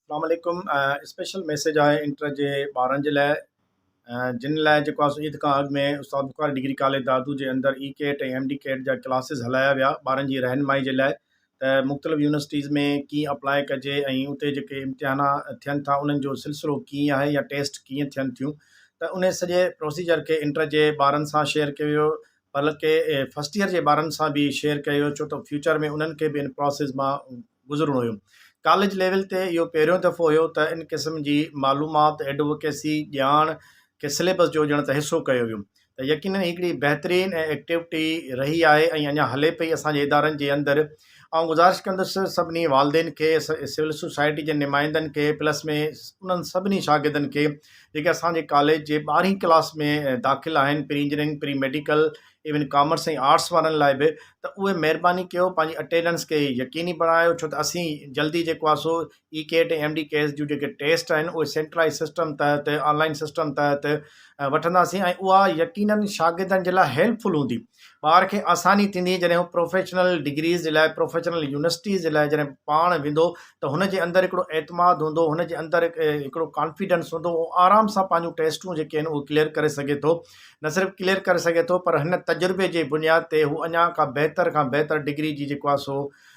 اسلام عليڪم special message آهي انٽر جي ٻارن جي لاء جن لاء جيڪو آسو عيد کان اڳ ۾ استاد بخاري ڊگري ڪاليج دادو جي اندر E CAT ۽ M D CAT جا ڪلاسز هلايا ويا ٻارن جي رهنمائي جي لاء ته مختلف يونيورسٽيز ۾ ڪيئن اپلاء ڪجي ۽ اتي جيڪي امتحانا ٿين ٿا انهن جو سلسلو ڪيئن آهي يا ٽيسٽ ڪيئن ٿين ٿيون ته ان سڄي پروسيجر کي انٽر جي ٻارن سان شيئر ڪيو ويو بلڪه فرسٽ ايئر جي ٻارن سان به شيئر ڪيو ڇو ته فيوچر ۾ انهن کي به ان پراسيس مان گذرڻو هيو ڪاليج ليول تي اهو پهريون دفعو هيو ته ان قسم جي معلومات ايڊووڪيسي ڄاڻ کي سليبس جو ڄڻ ته حصو ڪيو ويو ته يقينن هي هڪڙي بهترين ۽ ايڪٽيوٽي رهي آهي ۽ اڃا هلي پئي اسان جي ادارن جي اندر آئون گذارش ڪندس سڀني والدين کي سول سوسائٽي جي نمائندن کي پلس ۾ انهن سڀني شاگردن کي جيڪي اسانجي ڪاليج جي ٻارهين ڪلاس ۾ داخل آهن pre engineering pre medical even commerce ۽ arts وارن لاء به ته اهي مهرباني ڪيو پنهنجي اٽينڊنس کي يقيني بڻايو ڇو ته اسين جلدي جيڪو آهي سو E CAT ۽ M D CAT جون جيڪي ٽيسٽ آهن اهي سينٽرلائز سسٽم تحت آن لائن سسٽم تحت وٺنداسين ۽ اها يقينن شاگردن جي لاء هيلپفل هوندي ٻار کي آساني ٿيندي جڏهن هو پروفيشنل ڊگريز جي لاء پروفيشنل يونيورسٽيز جي لاء جڏهن پاڻ ويندو ته هن جي اندر هڪڙو اعتماد هوندو هن جي اندر هڪڙو ڪانفيڊنس هوندو اهو آرام سان پنهنجون ٽيسٽون جيڪي آهن اهو ڪليئر ڪري سگهي ٿو نه صرف ڪليئر ڪري سگهي ٿو پر هن تجربي جي بنياد تي هو اڃا کا بهتر کان بهتر ڊگري جي جيڪو آهي سو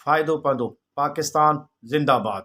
فائدو پوندو پاڪستان زنده باد.